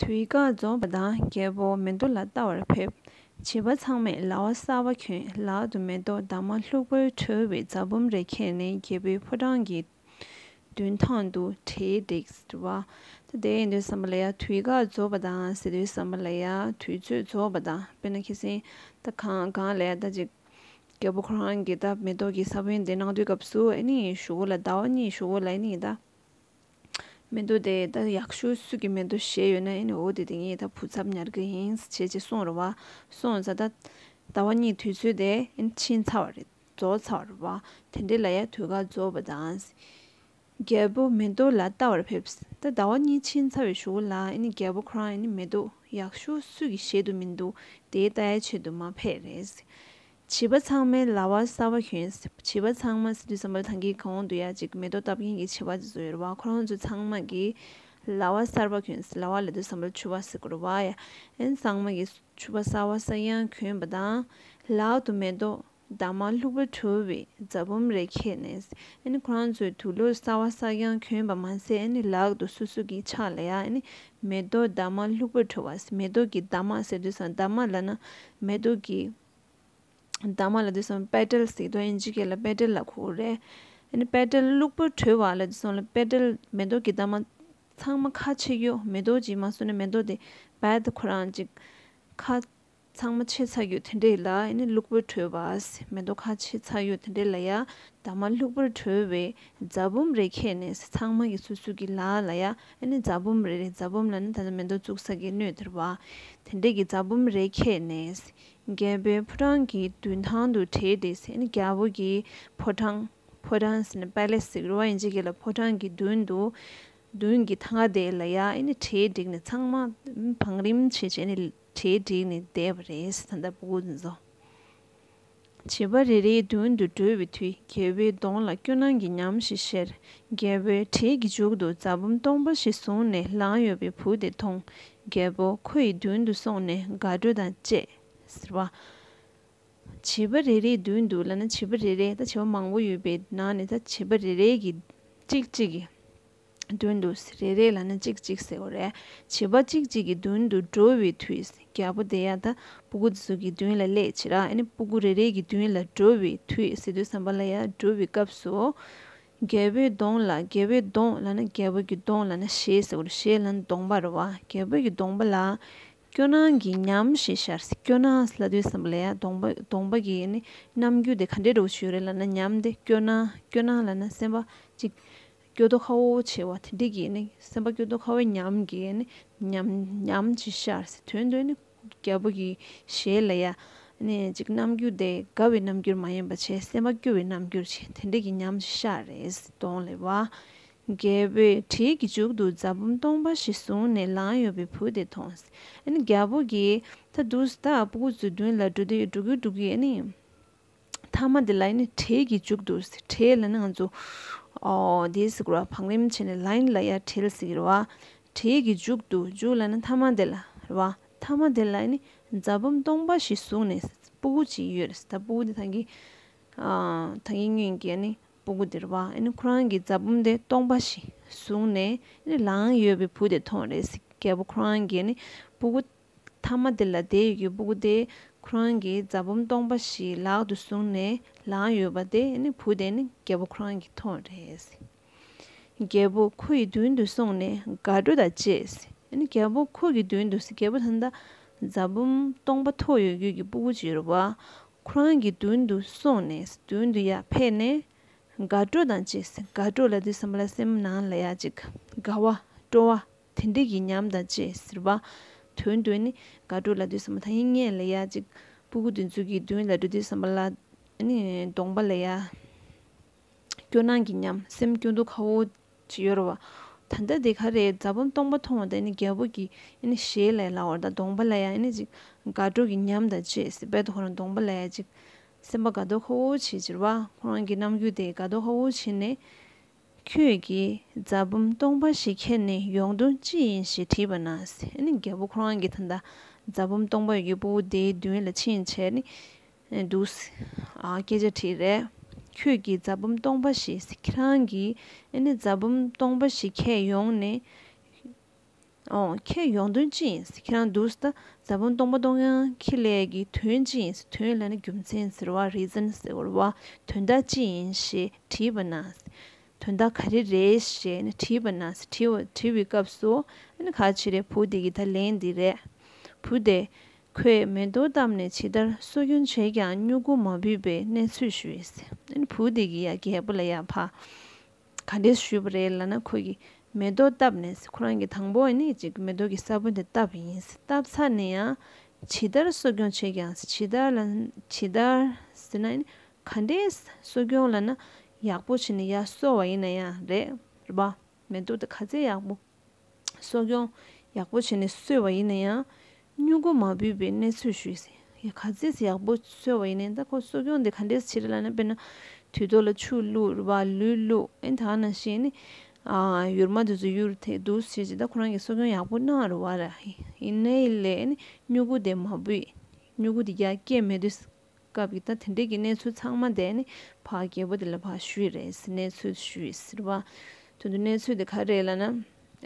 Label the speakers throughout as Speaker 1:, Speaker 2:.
Speaker 1: དུས་བཀག་རྫོགས་པ་དང་རྒྱལ་པོ་མེ་མདོ་ལ་བལྟ་བར་ཕེབས། བྱིས་པ་ཚང་མས་ལྭ་བ་གསར་བ་གྱོན་ལག་ཏུ་མེ་ཏོག་འདབ་མ་ལྷུག་པོའི་གྲོལ་བའི་རྫ་བུམ་རེ་ཁྱེར་ནས་རྒྱལ་པོའི་ཕོ་བྲང་གི་མདུན་ཐང་དུ་གྲལ་འགྲིགས། ད་ལྟའི་ཡིན་དུས་བསམ་པ་ལ་ཡ་དུས་བཀག་རྫོགས་པ་དང་ཟེར་དུས་བསམ་པ་ལ་ཡ་དུས་ཚོད་རྫོགས་པ་དང་དཔེར་ན་ཁྱེད་སེང་ད་གང་ལ་ཡ་ད་ཅིག་རྒྱལ་པོ་ཁོ་རང་གིས་ད་མེ་ཏོག་གི་ས་བོན་དེ་གནང་དུས་སྐབས་སུ་ཨེ་ནི་ཡི་ཞུ་བོ་ལ་ཟླ་བ་གཉིས་ཡི་ཞུ་བོ་ལ་ཨེ་ནི་ཡི་ད་མེ་ཏོག་དེ་ད་ཡག་ཤོས་སུས་ཀྱི་མེ་ཏོག་བཞེས་ཡོད་ན་ཨེ་ནི་འོ་དེ་དེ་ངའི་ད་བུ་ཚབ་ཉར་གི་ཡིན་བྱས་ཅི་གསུངས་རོ་བ་སོང་ཟ་ད་ཟླ་བ་གཉིས་དུས་ཚོད་དེ་ཨེ་ནི་ཕྱིན་ཚར་བ་རེད་རྫོགས་ཚར་བ་དེ་འདྲའི་ལ་ཡ་དུས་ཀ་རྫོགས་པ་དང། རྒྱལ་པོ་མེ་ཏོག་ལ་བལྟ་བར་ཕེབས། ད་ཟླ་བ་གཉིས་ཕྱིན་ཚར་བའི་ཞུ་བ་ལ་ཨེ་ནི་རྒྱལ་པོ་ཁོ་རང་ཨེ་ནི་མེ་ཏོག་ཡག་ཤོས་སུས་ཀྱི་བཞེད་དུ་མི་འདུག་དེའི་ལྟ་ཡ་བྱེད་དུ་མ་ཕེབས་རེད། བྱིས་པ་ཚང་མའི་ལྭ་བ་སྲ་བ་གྱོན། བྱིས་པ་ཚང་མ་སི་ཏུ་ས་འབར་ཐང་གི་གོང་དུ་ཡ་གཅིག་མེ་ཏོག་བཏབ་མཁན་གྱི་བྱིས་པ་དེ་ཚོ་ཡོད་རེད་བ་ཁོ་རང་ཚོ་ཚང་མ་གིས་ལྭ་བ་གསར་པ་གྱོན། ལྭ་བ་ལ་སི་ཏུ་ས་འབར་ཆུ་བ་ཟེར་གོ་རེད་བ་ཡ་ཨན་ཚང་མ་གིས་ཆུ་བ་གསར་བ་གསར་ཡང་གྱོན་པ་དང། ལག་ཏུ་མེ་ཏོག་དྭངས་མ་ལྷུག་པོ་འཕྲོ་བའི་རྫ་བུམ་རེ་ཁྱེར་ནས་ཁོ་རང་ཚོའི་དུག་ལུད་གསར་བ་གསར་རྐྱང་གྱོན་པ་མ་ཟད་ལག་ཏུ་སོ་སོ་གྱི་ཕྱག་ལས་མེ་ཏོག་དྭངས་མ་ལྷུག་པོ་འཕྲོ་བ་མེ་ཏོག་གི་དྭངས་མ་ཟེར་དུས་སམ་དྭངས་མ་ལ་ན་མེ་ཏོག་གི་དྭངས་མ་ལ་དུས་སམ་པད་སྤྲེལ་ཟེར་དོ་ཨིན་ཇི་སྐད་ལ་པད་སྤྲེལ་ལ་ཁུ་བོ་རེ་པད་སྤྲེལ་ལྷུག་པོ་འཕྲོ་བ་ལ་དུས་སམ་ལ་པད་སྤྲེལ་མེ་ཏོག་གི་དྭངས་མ་ཚང་མ་ཁ་ཕྱེ་གཡོ་མེ་ཏོག་ཅིག་མ་སོང་ན་མེ་ཏོག་དེ་རྦད་དེ་ཁོ་རང་གཅིག་ཁ། ཚང་མ་ཆེ་ཚགས་ཡོད་དེ་འདྲས་ལ་ཡ་ནི་ལུག་པོའི་གྲོས་བཟས་མེ་ཏོག་ཁ་ཆེ་ཚགས་ཡོད་དེ་འདྲས་ལ་ཡ་དྭངས་མ་ལུག་པོའི་གྲོས་བས་རྫ་བུམ་རེ་ཁྱེར་ནས་ས་ཚང་མ་གི་སོ་སོའི་གི་ལག་ལ་ཡ་ནི་རྫ་བུམ་རེ་རེ་རྫ་བུམ་ལ་ནི་ད་ལྟ་མེ་ཏོག་བཙུགས་ས་གི་སྣོད་དེར་བ་དེ་འདྲས་གི་རྫ་བུམ་རེ་ཁྱེར་ནས་རྒྱལ་པོའི་ཕོ་བྲང་གི་མདུན་ཐང་དུ་བྲེས་ཏེ་ཡ་ནི་རྒྱལ་པོ་གི་ཕོ་བྲང་ཕོ་བྲང་ཟེར་ནས Palace ཟེར་གི་རེད་བ་ཡིན་ཅིག་གི་ལ་ཕོ་བྲང་གི་མདུན་དུ་མདུན་གི་ཐང་ག་དེ་ལ་ཡ་ནི་གྲལ་བསྒྲིགས་ནས་ཚང་མ་བང་རིམ་བྱས་བྱས་ནས། གྲལ་བསྒྲིགས་ནས་བསྡད་པ་རེད་ད་ལྟ་བུ་འཛོ། བྱིས་པ་རེ་རེའི་མདུན་དུ་འགྲོ་བའི་དུས་རྒྱལ་པོའི་གདོང་ལ་སྐྱོ་སྣང་གི་ཉམས་ཤིག་བཞེར། རྒྱལ་པོའི་གྲལ་གྱི་མཇུག་ཏུ་རྫ་བུམ་སྟོང་པ་ཞིག་བཟུང་ནས་ལངས་ཡོད་པའི་བུ་དེ་མཐོང། རྒྱལ་པོ་ཁོ་ཡི་མདུན་དུ་སོང་ནས་དགའ་སྤྲོ་དང་བཅས། ཟེར་བ། བྱིས་པ་རེ་རེའི་མདུན་དུ་ལ་ན་བྱིས་པ་རེ་རེ་ད་བྱིས་པ་མང་པོ་ཡོད་པའི་ནང་ནས་ད་བྱིས་པ་རེ་རེ་གིས་གཅིག་གཅིག་གིས། མདུན་དུ་རེ་རེ་ལ་ནི་གཅིག་གཅིག་ཟེར་བ་རེད། བྱིས་པ་གཅིག་གཅིག་གི་མདུན་དུ་འགྲོ་བའི་དུས་རྒྱལ་པོ་དེ་ཡང་དང་པོ་ཀུ་ཙི་གི་མདུན་ལ་སླེབས་ཕྱིར་ར་ནི་པུ་ཀུ་རེ་རེ་གི་མདུན་ལ་འགྲོ་བའི་དུས་སི་ཏུ་སམ་བ་ལ་ཡ་སྒྲུབ་པའི་སྐབས་སུ། རྒྱལ་པོའི་གདོང་ལ་རྒྱལ་པོའི་གདོང་ལ་ནི་རྒྱལ་པོ་གི་གདོང་ལ་ནི་ཞེས་ཟེར་བར་ཞེས་ལ་ནི་གདོང་པར་རོ་བ་རྒྱལ་པོ་གི་གདོང་པ་ལ། སྐྱོ་སྣང་གི་ཉམས་ཞེས་ཤར་སི་སྐྱོ་སྣང་སི་ལ་ཏུ་སམ་བ་ལ་ཡ་གདོང་པ་གདོང་པ་གི་ནི་རྣམ་འགྱུར་དེ་ག་འདྲའི་སྒྲོག་བྱེད་རེ་ལ་ནི་ཉམས་ཏེ་སྐྱོ་སྣང་སྐྱོ་སྣང་ལ་ནི་སེམས་པ་གཅིག། སྐྱོ་དོ་ཁ་བོ་བོ་བྱེད་བ་དེ་འདི་གིས་ནི་སེམས་པ་སྐྱོ་དོ་ཁ་བོའི་ཉམས་ཀྱིས་ནི་ཉམས་ཉམས་ཀྱིས་ཤར་ཟེར་དོན་དུ་ནི་རྒྱལ་པོ་གྱི་ཞལ་ལ་ཡ། ནི་ཅིག་རྣམ་འགྱུར་དེ་དགའ་བའི་རྣམ་འགྱུར་མ་ཡིན་པ་བྱེད་སེམས་པ་སྐྱོ་བའི་རྣམ་འགྱུར་བྱེད་དེ་འདི་གིས་ཉམས་ཀྱིས་ཤར་རེ་ཟེར་དོང་ལེ་བ། རྒྱལ་པོས་དྲིས་ཀྱི་མཇུག་ཏུ་རྫ་བུམ་སྟོང་པ་ཞིག་བཟུང་ནས་ལངས་ཡོད་པའི་བུ་དེ་མཐོང་ཟེར་ནི་རྒྱལ་པོ་གྱིས་ད་དུ་ད་སྤུ་གུ་ཚོའི་མདུན་ལ་འགྲོ་དུས་འགྲོ་གི་འགྲོ་གི་ནི། མཐའ་མ་དེ་ལ་ནི་བྲེལ་གྱིས་བཅུག་འདུག་ཟེར་བྲེལ་ལ་ནི་ང་ཚོ་དེ་ཟེར་གི་རོ་བག་ལེབ་བྱས་ནས་ལན་ལ་ཡ་བྲེལ་ཟེར་གི་རོ་བ་བྲེལ་གྱིས་བཅུག་འདུག་བཅུག་ལ་ནི་མཐའ་མ་དེ་ལ་རེད་བ་མཐའ་མ་དེ་ལ་ནི་རྫ་བུམ་སྟོང་པ་ཞིག་བཟུང་ནས་སྤུ་གུ་ཅིག་ཡོད་རེད་ད་སྤུ་གུ་དེ་ཐང་གི་ཐང་གི་སྙུན་གྱི་ནི་སྤུ་གུ་དེ་རེད་བ་ཨ་ནི་ཁོ་རང་གི་རྫ་བུམ་དེ་སྟོང་པ་ཞིག་བཟུང་ནས་ནི་ལངས་ཡོད་པའི་བུ་དེ་མཐོང་རེད་ཟེར་གི་རྒད་པོ་ཁོ་རང་གི་ནི་སྤུ་གུ་མཐའ་མ་དེ་ལ་དེའི་ཡི་གེ་སྤུ་གུ་དེ་ཁོ་རང་གི་རྫ་བུམ་སྟོང་པ་ཞིག་ལག་ཏུ་བཟུང་ནས་ལངས་ཡོད་པ་དེ་ནི་བུ་དེ་ནི་རྒྱལ་པོ་ཁོ་རང་གི་ཐོག་རེད། རྒྱལ་པོ་ཁོ་ཡི་མདུན་དུ་སོང་ནས་དགའ་སྤྲོ་དང་བཅས་རྒྱལ་པོ་ཁོ་གི་མདུན་དུ་རྒྱལ་པོ་ད་ལྟ་རྫ་བུམ་སྟོང་པ་ཐོགས་ཡོད་ཡུལ་གྱི་སྤུ་གུ་བྱི་རུ་བ་ཁོ་རང་གི་མདུན་དུ་སོང་ནས་མདུན་དུ་ཡར་ཕེབས་ནས་དགའ་སྤྲོ་དང་བཅས་དགའ་སྤྲོ་ལ་དུས་སམ་བླ་སེམས་ནང་ལ་ཡ་ཅིག་དགའ་བ་སྤྲོ་བ་དེ་འདི་ཡིན་སྙམ་དང་ཅེས་ཟེར་བ། དོན་དུ་ནི་དགའ་སྤྲོ་ལ་དུས་བསམ་པ་ཐ་ཡིན་ངེས་ལ་ཡ་གཅིག། སྤུ་གུ་དུས་མཚུངས་ཀྱི་དོན་ལ་འགྲོ་དུས་བསམ་པ་ལ། གདོང་པ་ལ་ཡ། སྐྱོ་སྣང་གི་ཉམས་སེམས་སྐྱོ་འདུག་ཁ་བོ་ཅི་གཡོར་བ། ད་ལྟ་འདི་ག་རེ་རྫ་བུམ་སྟོང་པ་མཐོང་བ་དང་རྒྱལ་པོ་གྱི་ཞལ་ལས་ལ་བར་དང་གདོང་པ་ལ་ཡ་གཅིག། དགའ་སྤྲོ་གི་ཉམས་དང་བཅས་སེ་བལ་དུ་ཁོ་རང་གདོང་པ་ལ་ཡ་གཅིག། སེམས་པ་དགའ་སྡོག་ཁ་བོ་ཆེ་གྱེར་བ་ཁོ་རང་གི་རྣམ་འགྱུར་དེས་དགའ་སྡོག་ཁ་བོ་ཆེ་ནས། ཁྱོད་ཀྱིས་རྫ་བུམ་སྟོང་པ་ཞིག་ཁྱེར་ནས་ཡོང་དུས་ཅི་ཡིན་ཞེས་དྲིས་པ་ན་རྒྱལ་པོ་ཁོ་རང་གི་ད་ལྟ་རྫ་བུམ་སྟོང་པ་ཡོད་པོ་དེའི་མདུན་ལ་ཕྱིན་བྱས་ནས་འདུག། སྐད་ཆ་དྲིས། རེད། ཁྱོད་ཀྱིས་རྫ་བུམ་སྟོང་པ་ཞིག་ཁྱེད་རང་གིས་རྫ་བུམ་སྟོང་པ་ཞིག་ཁྱེར་ཡོང་ནས། ཨོང། ཁྱེད་ཡོང་དོན་ཅི་ཡིན་ཟེར་ཁྱེད་རང་འདུག་ཟེར་ད་ཟ་བོན་སྟོང་པ་སྟོང་ཡང་ཁྱི་ལས་ཀྱི་དོན་ཅི་ཡིན་ཟེར་དོན་ལས་ན་རྒྱུ་མཚན་ཟེར་བ reason ཟེར་བར་བ་དོན་དག་ཅི་ཡིན་ཞེས་དྲིས་པ་ན། དོན་དག་ག་རེ་རེད་ཞེས་ནས་དྲིས་པ་ན་དྲི་བའི་སྐབས་སུ་ཨ་ནི་ཁ་ཆེ་རེད་བུ་འདི་ཡི་ད་ལན་འདི་རེད། བུ་དེ། ཁོས་མེ་ཏོག་བཏབ་ནས་ཇི་ལྟར་གསོ་སྐྱོང་བྱས་ཀྱང་སྨྱུ་གུ་མ་བུས་པའི་གནས་ཚུལ་ཞུས། ཨ་ནི་བུ་འདི་ཡི་ཡ་གད་པོ་ལ་ཡ་ཕ། ག་རེ་ཞུས་པ་རེད་ལ་ན་ཁོ་གི་མེ་ཏོག་བཏབ་ནས་ཁོ་རང་གི་དང་པོ་ནས་ཅིག་གི་མེ་ཏོག་གི་ས་བོན་དེ་བཏབ་ཡིན་བཏབ་ཚར་ནས་ཡང་ཇི་ལྟར་གསོ་སྐྱོང་བྱས་ཀྱང་ཇི་ལྟར་ལ་ཇི་ལྟར་ཟེར་ན་ཡིན་ག་འདྲའི་གསོ་སྐྱོང་ལ་ན་ཡག་པོ་བྱས་ནས་ཡར་གསོ་བ་ཡིན་ན་ཡང་རེད་རེད་པ་མེ་ཏོག་དེ་ག་ཚད་ཡག་པོ། གསོ་སྐྱོང་ཡག་པོ་བྱས་ནས་གསོས་བ་ཡིན་ན་ཡང་སྨྱུ་གུ་མ་བུས་པའི་གནས་ཚུལ་ཞུས་ཟིན། ག་ཚད་ཡག་པོ་གསོས་བ་ཡིན་ན་ད་ཁོ་གསོ་སྐྱོང་དེ་ག་འདྲས་བྱེད་རེད་ལབ་ན་དཔེར་ན་དུས་ཐོག་ལ་ཆུ་བླུགས་ར་ལུས་བླུགས་ཨེ་ཐང་ན་ཞེས་ནི། ཡུར་མ་དུས་སུ་ཡུར་ཐེག་དུས་སུ་བྱས་ཅི་ད་ཁོ་རང་གིས་གསོ་སྐྱོང་ཡག་པོ་གནང་རུ་བ་ར་ཡིན་ཨེ་ལས་ནི་སྨྱུ་གུ་དེ་མ་བུས་སྨྱུ་གུ་དེ་རྒྱ་སྐྱེད་མེད་དུས། སྐབས་ཀྱི་ད་དེ་འདྲས་ཀྱི་གནས་ཚུལ་ཚང་མ་དེ་ནི་ཕ་རྒྱལ་པོ་དེ་ལ་ཕ་ཞུ་ཡི་རེད་ཟེར་གནས་ཚུལ་ཞུ་ཡི་ཟེར་བ། དོན་དུ་གནས་ཚུལ་དེ་ག་རེད་ལ་ན།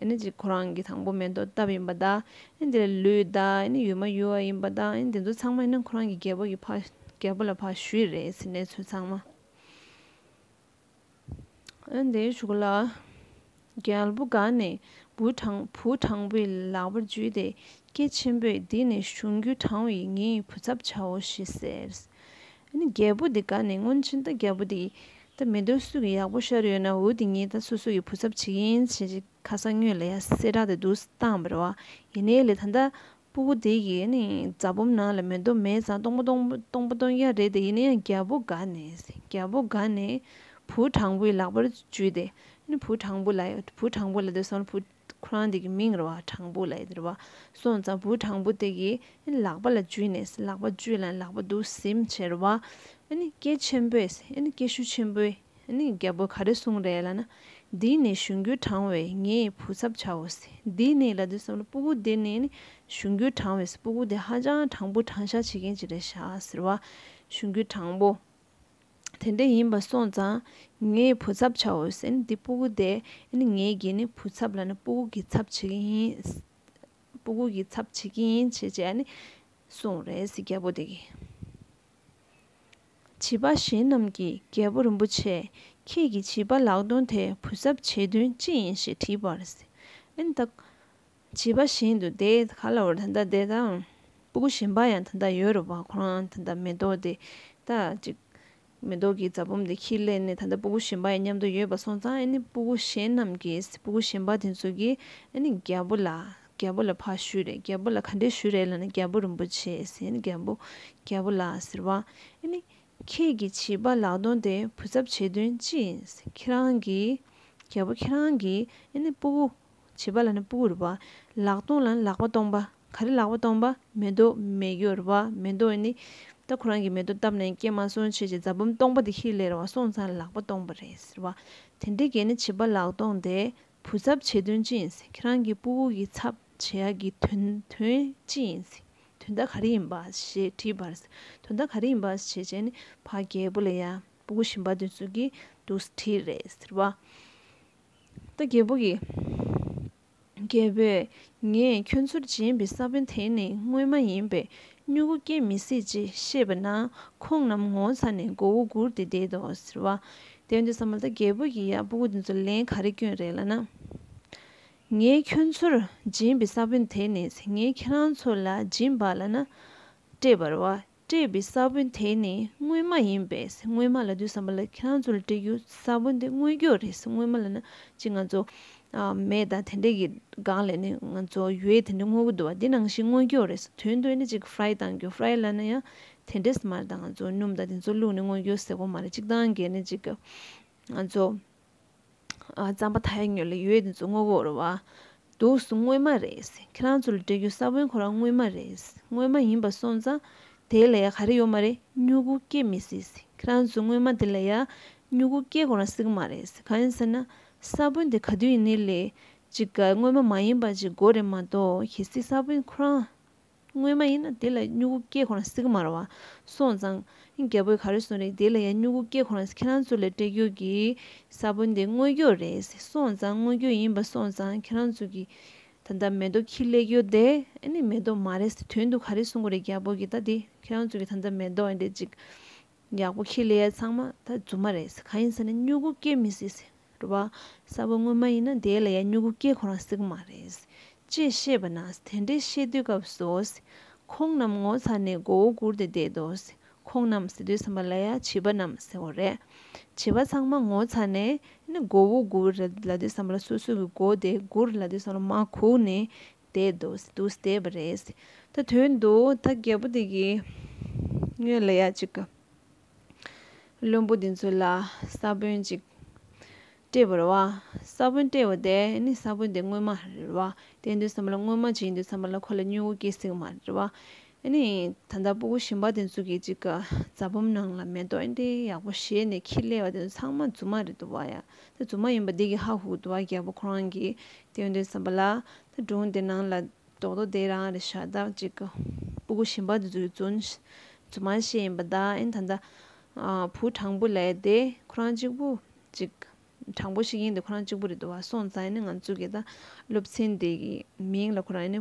Speaker 1: ཨེ་ནི་གཅིག་ཁོ་རང་གི་དང་པོ་མེ་ཏོག་བཏབ་ཡིན་པ་དང་ཨེ་ནི་དེ་ལས་ལུས་དང་ཨེ་ནི་ཡུལ་མ་ཡུལ་བ་ཡིན་པ་དང་ཨེ་ནི་དེ་ཚོ་ཚང་མ་ཨེ་ནི་ཁོ་རང་གི་རྒྱལ་པོ་གི་ཕ་རྒྱལ་པོ་ལ་ཕ་ཞུ་ཡི་རེད་ཟེར་གནས་ཚུལ་ཚང་མ། ཨན་དེའི་གཞུག་ལ་རྒྱལ་པོ་དགའ་ནས་བུ་དྲང་པོའི་ལག་པར་འཇུས་ཏེ་ཀྱེ་ཆེན་པོས་འདི་ནི་གཞུང་རྒྱུད་དྲང་བའི་ངའི་བུ་ཚབ་བྱའོ་ཞེས་ཟེར། རྒྱལ་པོ་དེ་དགའ་ནས་སྔོན་ཕྱིན་ད་རྒྱལ་པོ་དེས་ད་མི་འདོད་སུ་གི་ཡག་པོ་ཤར་ཡོད་ན་འུ་དེ་གཉིས་ད་སོ་སོ་ཡི་བུ་ཚབ་བྱེད་ཀྱིན་བྱེད་ཀྱིན་ཁ་སང་སྨྱོས་ལ་ཡ་སེ་དྲག་སྟེ་འདུག་སྟངས་བར་བ་ཡིན་ནའི་ལས་ད་ལྟ་སྤུ་གུ་དེ་ཡིས་ནི་རྫ་བུམ་ནང་ལ་མེ་རྡོ་མེ་བཟང་སྟོང་པ་སྟོང་པ་སྟོང་བརྒྱ་རེ་དེ་ཡིས་ནི་རྒྱལ་པོ་དགའ་ནས་རྒྱལ་པོ་དགའ་ནས་བུ་དྲང་པོའི་ལག་པར་འཇུས་ཏེ་ནི་བུ་དྲང་པོ་ལ་བུ་དྲང་པོ་ལ་དེ་སོང་བུ་ཁོ་རང་དེ་གི་མིང་ར་བ་དྲང་པོ་ལ་ཡི་ར་བ་སོང་ཙང་བུ་དྲང་པོ་དེ་ཡིས་ནི་ལག་པ་ལ་འཇུས་ནས་ལག་པ་འཇུས་ལ་ནི་ལག་པ་དུ་སིམ་བྱེར་བ་ནི་སྐད་ཆེན་པོས་ནི་སྐད་ཤུགས་ཆེན་པོས། ནི་རྒྱལ་པོ་ག་རེ་གསུངས་རེད་ལ་ན། འདི་ནི་གཞུང་རྒྱུད་དྲང་བས་ངས་བུ་ཚབ་བྱའོ། འདི་ནི་ལ་དུས་སམ་ལ་པུཀུ་འདི་ནི་ནི་གཞུང་རྒྱུད་དྲང་བས་སི་པུཀུ་འདི་ཧ་ཅང་དྲང་པོ་དྲང་བཞག་བྱེད་མཁན་ཅིག་རེད་ཤག་ཟེར་བ། གཞུང་རྒྱུད་དྲང་པོ། དེ་འདྲ་ཡིན་པ་སོང་ཙང་ངས་བུ་ཚབ་བྱའོ་ཟེར་ནི་འདི་པུཀུ་དེ་ནི་ངས་གྱིས་ནི་བུ་ཚབ་ལ་ནི་པུཀུ་གྱིས་ཚབ་བྱེད་ཀྱི་ཡིན། པུཀུ་གྱིས་ཚབ་བྱེད་ཀྱི་ཡིན་བྱས་བྱས་ནི་གསུངས་རེད་ཟེར་རྒྱལ་པོ་དེ་གིས། བྱིས་པ་གཞན་རྣམས་ཀྱིས་རྒྱལ་པོ་རིན་པོ་ཆེ་ཁྱེད་ཀྱིས་བྱིས་པ་ལག་སྟོན་དེ་བུ་གཟབ་བྱེད་དོན་ཅི་ཡིན་ཞེས་དྲིས་པར། ཨིན་ད། བྱིས་པ་གཞན་དུ་དེ་ག་ལ་བར་ད་ལྟ་དེ་དང། སྤུ་གུ་གཞན་པ་ཡང་ད་ལྟ་ཡོད་རེད་བ་ཁོ་རང་ད་ལྟ་མེ་ཏོག་དེ་ད་ཅིག། མེ་ཏོག་གི་རྫ་བུམ་དེ་ཁྱིས་གླས་ནས་ད་ལྟ་སྤུ་གུ་གཞན་པ་ཡང་མཉམ་དུ་ཡོད་པ་སོང་ཙང་ཨིན་སྤུ་གུ་གཞན་རྣམས་ཀྱིས་སྤུ་གུ་གཞན་པ་དེ་ཚོ་གིས་ཨིན་རྒྱལ་པོ་ལ་རྒྱལ་པོ་ལ་ཕ་ཞུས་རེད་རྒྱལ་པོ་ལ་ག་འདྲས་ཞུས་རེད་ལ་ན་རྒྱལ་པོ་རིན་པོ་ཆེ་ཟེར་རྒྱལ་པོ་རྒྱལ་པོ་ལགས་ཟེར་བ་ཨེ་ནི། ཁྱེད་ཀྱི་བྱིས་པ་ལག་སྟོང་དེ་བུ་ཚབ་བྱེད་དོན་ཅི་ཡིན་ཁྱེད་རང་གིས་རྒྱལ་པོ་ཁྱེད་རང་གིས་ཨེ་ནི་སྤུ་བོ། བྱིས་པ་ལ་ན་སྤུ་བོ་རེད་བ། ལག་སྟོང་ལ་ན་ལག་པ་སྟོང་པ་ག་རེ་ལག་པ་སྟོང་པ་མེ་ཏོ་མེ་གཡོ་རེད་བ་མེ་ཏོ་ཨེ་ནི། ད་ཁོ་རང་གིས་མེ་ཏོ་བཏབ་ནས་སྐྱེས་མ་སོང་ཆེ་ཆེ་རྫ་བུམ་སྟོང་པ་དེ་ཧི་ལས་རེད་བ་སོང་ཙང་ལག་པ་སྟོང་པ་རེད་ཟེར་བ་དེ་འདྲའི་གས་ནི་བྱིས་པ་ལག་སྟོང་དེ་བུ་ཚབ་བྱེད་དོན་ཅི་ཡིན་ཟེར་ཁྱེད་རང་གི་སྤུ་བོ་གི་ཚབ་བྱེད་ཡ་གི་དོན་དོན་ཅི་ཡིན་ཟེར་དོན་མཐའ་ག་རེ་ཡིན་པ་ཞེས་དྲིས་པར་དོན་མཐའ་ག་རེ་ཡིན་པ་བྱེད་བྱས་ནས་ཕ་རྒྱལ་པོ་ལ་ཡ་སྤུ་བོ་ཞིམ་པ་དོན་བཟོ་གི་འདུག་ཟེར་དྲིས་རེད་ཟེར་བ། ད་རྒྱལ་པོ་གིས། རྒྱལ་པོས་ངས་ཁྱོད་ཚུར་བྱིན་པའི་ས་བོན་དེ་ནི་དངོས་མ་ཡིན་པས་སྨྱུ་གུ་སྐྱེ་མི་སྲིད་ཅེས་ཤེས་པ་ན་ཁོང་རྣམས་ངོ་ཚ་ནས་མགོ་བོ་སྒུར་ཏེ་བསྡད་དོ་ཟེར། བ་དན་དུ་ས་མ་ལྟ་རྒྱལ་པོ་ཡིས་ཡང་སྤུ་གུ་འདི་ཚོ་ལན་ག་རེ་བསྐྱོན་རེ་ལ་ན། ངས་ཁྱོད་ཚོར་སྦྱིན་པའི་ས་བོན་དེ་ནི་ངས་ཁྱེད་རང་ཚོ་ལ་སྦྱིན་པ་ལ་ན། སྤྲད་པར་བ་སྤྲད་པའི་ས་བོན་དེ་ནི་སྔོན་མ་ཡིན་པས་སྔོན་མ་ལ་དུ་ས་མ་ལ་ཁྱེད་རང་ཚོ་ལ་སྤྲད་རྒྱུ་ས་བོན་དེ་སྔོན་སྐྱོ་རེ་སྔོན་མ་ལ་ན་ཅི་ང་ཚོ་མེད་ད་དེ་འདྲས་ཀྱི་སྒང་ལས་ནི་ང་ཚོ་ཡོད་དེ་འདྲས་སྔོ་གི་འདུག་བ་འདི་ནང་བཞིན་སྔོ་སྐྱོ་རེད་ཟེར་དོན་དོན་ནི་གཅིག་ཧྥ་ར་ཡི་བཏང་རྒྱུ་ཧྥ་ར་ཡི་ལ་ན་ཡང་དེ་འདྲས་སུ་མ་རེད་ད་ང་ཚོ་སྣུམ་ད་དེ་ཚོ་བླུག་ནི་སྔོ་སྐྱོ་ཟེར་གོ་མ་རེད་གཅིག་ཏང་གི་ནི་གཅིག་ང་ཚོ་རྩམ་པ་ད་ཡ་ཉོས་ལ་ཡོད་དེ་ཚོ་སྔོ་གོ་རུ་བ་འདུག་སུ་སྔོན་མ་རེད་ཁྱེད་རང་ཚོ་ལ་སྤྲད་རྒྱུ་ས་བོན་ཁོ་རང་སྔོན་མ་རེད་སྔོན་མ་ཡིན་པ་སོང་ཙང་དེ་ལ་ཡ་ག་རེ་ཡོད་མ་རེད་སྨྱུ་གུ་སྐྱེ་མི་སྲིད་ཁྱེད་རང་ཚོ་སྔོན་མ་དེ་ལ་ཡ་སྨྱུ་གུ་སྐྱེ་གོ་རང་སྲིད་གི་མ་རེད་གང་ཡིན་ཟེར་ན་ས་བོན་དེ་ག་དུས་ཡིན་ནི་ལས། ཅིག་ག་སྔོན་མ་མ་ཡིན་པ་ཅིག་མགོ་རེ་མ་གཏོགས་གལ་སྲིད་ས་བོན་ཁོ་རང། སྔོན་མ་ཡིན་ན་དེ་ལ་སྨྱུ་གུ་སྐྱེས་ཁོ་རང་སིག་མ་ར་བ། སོང་ཙང། རྒྱལ་པོས་ག་རེ་གསུངས་རེད་དེ་ལ་ཡང་སྨྱུ་གུ་སྐྱེས་ཁོ་རང་ཁྱེད་རང་ཚོ་ལས་སྤྲད་རྒྱུ་གི། ས་བོན་དེ་དངོས་རྒྱུ་རེད་སོང་ཙང་དངོས་རྒྱུ་ཡིན་པ་སོང་ཙང་ཁྱེད་རང་ཚོ་གི། ད་ལྟ་མེ་ཏོག་ཁྱི་གླེགས་ཡོད་དེ་ཨ་ནི་མེ་ཏོག་མ་རེད་དོན་དུ་ག་རེ་གསུངས་གོ་རེད་རྒྱལ་པོ་གི་ད་དེ་ཁྱེད་རང་ཚོ་གི་ད་ལྟ་མེ་ཏོག་རེད་ཅིག་ཡག་པོ་ཁྱི་ལི་ཡ་ཚང་མ་ད་རྫུན་མ་རེད་ཟེར་གང་ཡིན་ཟེར་ན་སྨྱུ་གུ་སྐྱེ་མི་སྲིད་ཟེར་རེད་བ་གསར་བུ་དངོས་མ་ཡིན་ན་དེའི་ལ་ཡ་སྨྱུ་གུ་སྐྱེ་ཁོ་རང་སྲིད་གི་མ་རེད། ཅེས་བཤད་པ་ན་དེ་འདྲའི་བཤད་དུས་སྐབས་སུ། ཁོང་རྣམས་ངོ་ཚ་ནས་མགོ་བོ་སྒུར་ཏེ་བསྡད་དོ། ཁོང་རྣམས་ཟེར་དུས་བསམ་པ་ལ་ཡ་བྱིས་པ་རྣམས་ཟེར་བ་རེད། བྱིས་པ་ཚང་མ་ངོ་ཚ་ནས་མགོ་བོ་སྒུར་ལ་དུས་བསམ་པ་ལ་སོ་སོ་གི་མགོ་དེ་སྒུར་ལ་དུས་བསམ་པ་ལ་མ་གུག་ནས་དེ་དུས་དུས་བལྟས་པ་རེད། ད་དོན་དུ་ད་རྒད་པོ་དེ་གིས་ངོས་ལ་ཡ་གཅིག་གི། བླུན་པོ་དེ་ཚོ་ལ་ས་བོན་གཅིག་སྤྲད་པར་བ། ས་བོན་སྤྲད་བ་དེ་ནི་ས་བོན་དེ་དངོས་མ་རེད་བ། དེ་དུས་སམ་ལ་དངོས་མ་ཅི་ཡིན་དུས་སམ་ལ་ཁོ་ལ་སྨྱུ་གུ་སྐྱེ་སྲིད་མ་རེད་བ། ཨེ་ནི། ད་ལྟ་སྤུ་གུ་ཞིམ་པ་དེ་ཚོ་གིས་ཅིག་ག་རྫ་བུམ་ནང་ལ་མེ་ཏོག་འདི་ཡག་པོ་བཞེས་ནས་ཁྱི་ཀླད་བ་དེ་ཚོ་ཚང་མ་རྫུན་མ་རེད་དོ་བ་ཡ། དེ་རྫུན་མ་ཡིན་པ་འདི་གི་ཧ་ཧུ་དུ་བ་རྒྱལ་པོ་ཁོ་རང་གིས་བསྟན་དོན་བསམ་པ་ལ། དེ་སྒྲུང་དེ་ནང་ལ་རྡོག་རྡོག་དེ་རང་རེད་ཤ་སྟག་ཅིག་ག་སྤུ་གུ་ཞིམ་པ་དེ་ཚོ་གིས་རྫུན། རྫུན་མ་བཞེས་ཡིན་པ་ད་ཨེ་ནི་ད་ལྟ། བུ་དྲང་པོ་ལས་དེ་ཁོ་རང་གཅིག་པུ་ཅིག་ག་དྲང་པོ་ཞིག་ཡིན་དེ་ཁོ་རང་གཅིག་པུ་རེད་དོ་བ་སོང་ཙང་ཨེ་ནི་ང་ཚོ་གི་ད་སློབ་ཚན་དེ་གི་མིང་ལ་ཁོ་རང་ཨེ་ནི།